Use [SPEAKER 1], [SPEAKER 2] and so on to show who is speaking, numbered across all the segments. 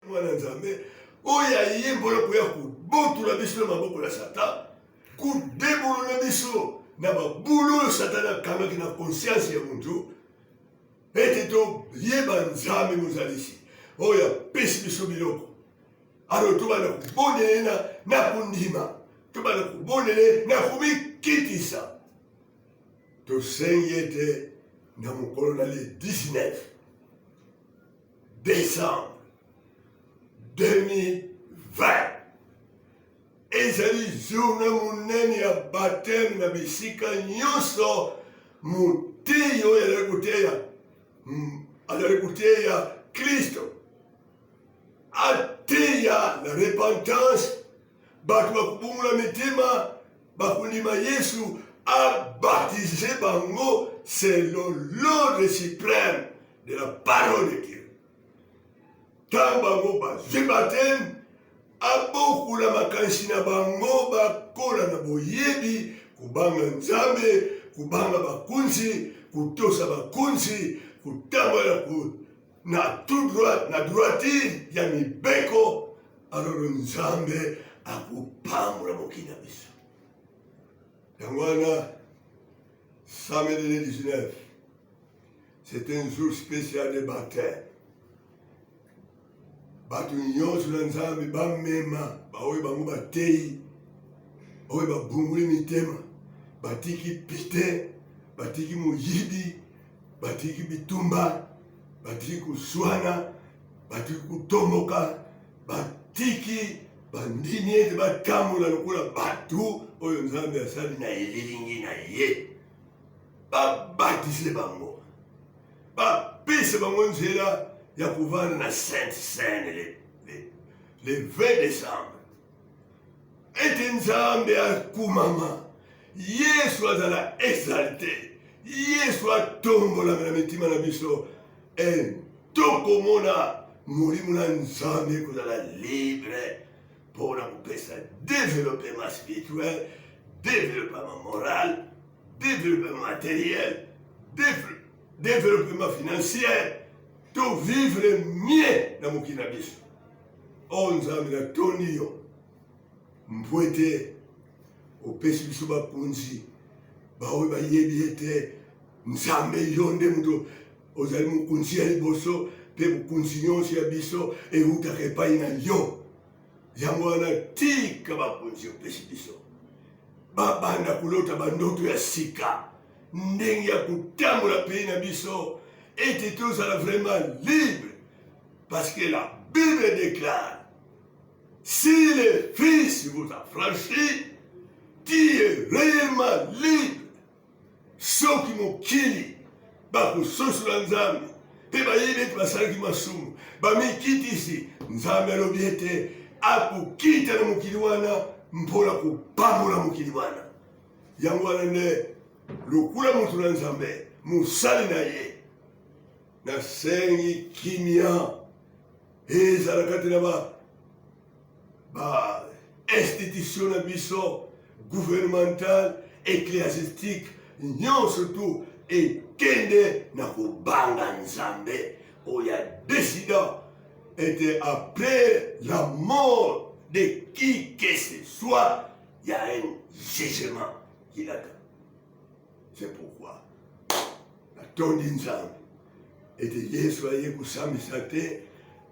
[SPEAKER 1] mwana nzambe oyo ayembola koya kobotula biso na maboko ya satan kudebolola biso na babulu oyo satan akangaki na konsianse ya motu ete toyeba nzambe mozalisi oyo apesi biso biloko alo tobanda kobondela na kondima tobanda kobondela na komikitisa tosengi ete na mokolo na le 19 Décembre 2020 ezali journée monene ya baptême na bisika nyonso moteyi oyo azali koteya hmm, azali koteya kristo ateya na repentance bato bakobongola mitema bakondima yesu abatize bango selon l'ordre suprême de la parole de Dieu. Ntango bango bazwi bateme, abokola makanisi na bango, bakola na boyebi, kobanga Nzambe, kobanga bakunzi, kutosa bakunzi, kutambola na tout droit, na droitire ya mibeko, alors Nzambe akopambola mokili na biso. Yango wana samedi le 19 c'est un jour spécial de baptême bato nyonso na nzambe bamema baoyo bango bateyi oyo babunguli mitema batiki pite batiki moyibi batiki bitumba batiki koswana batiki kotomoka batiki bandimi ete batambola lokola bato oyo nzambe asali na elilingi na ye babatise bango bapese bango nzela ya kovanda na sainte seine le, le, le 20 décembre ete nzambe akumama yesu azala exalte yesu atombolama na mitima na biso e tokomona molimo na nzambe ekozala libre mpona kopesa developema spirituel developema moral Développement matériel, développement financier, to vivre mieux na mokili na biso. Oh Nzambe na toni yo mpo ete opesi biso bakonzi baoyo bayebi ete Nzambe yo nde moto ozali mokonzi ya liboso mpe bokonzi nyonso ya biso ewutaka epai na yo. yango wana tika bakonzi opesi biso babanda kolota bandoto ya sika ndenge ya kotambola pays na biso ete tozala vraiment libre parce que la bible déclare si le fils vous a franchi tu es réellement libre Soki mokili bakososola Nzambe mpe bayebi ete basalaki masumu, bamikitisi, Nzambe alobi ete akokita na mokili wana mpo na kopambola mokili wana. Yango wana nde lokola moto na Nzambe, mosali na ye, nasengi kimia ezala kati na ba ba institution na biso gouvernementale ecclesiastique nyonso tu ekende na kobanga nzambe oyo ya décidant ete après la mort de qui que ce soit ya un jugement kilaka C'est pourquoi natondi Nzambe ete Yesu aye kosambisa te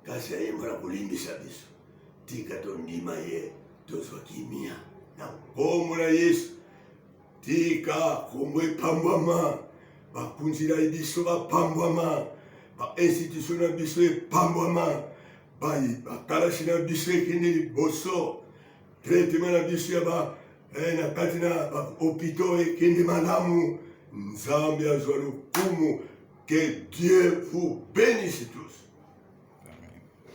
[SPEAKER 1] kasi aye mpo na kolimbisa biso. Tika tondima ye, tozwa kimia na nkombo na Yesu. Tika nkombo epambwama, bakonzi na biso bapambwama, bainstitution na biso epambwama, bakalasi na biso ekende liboso, traitement na biso ya ba eh, na kati na bahopitaux ekende malamu nzambe azwa lokumu que dieu vous bénisse tous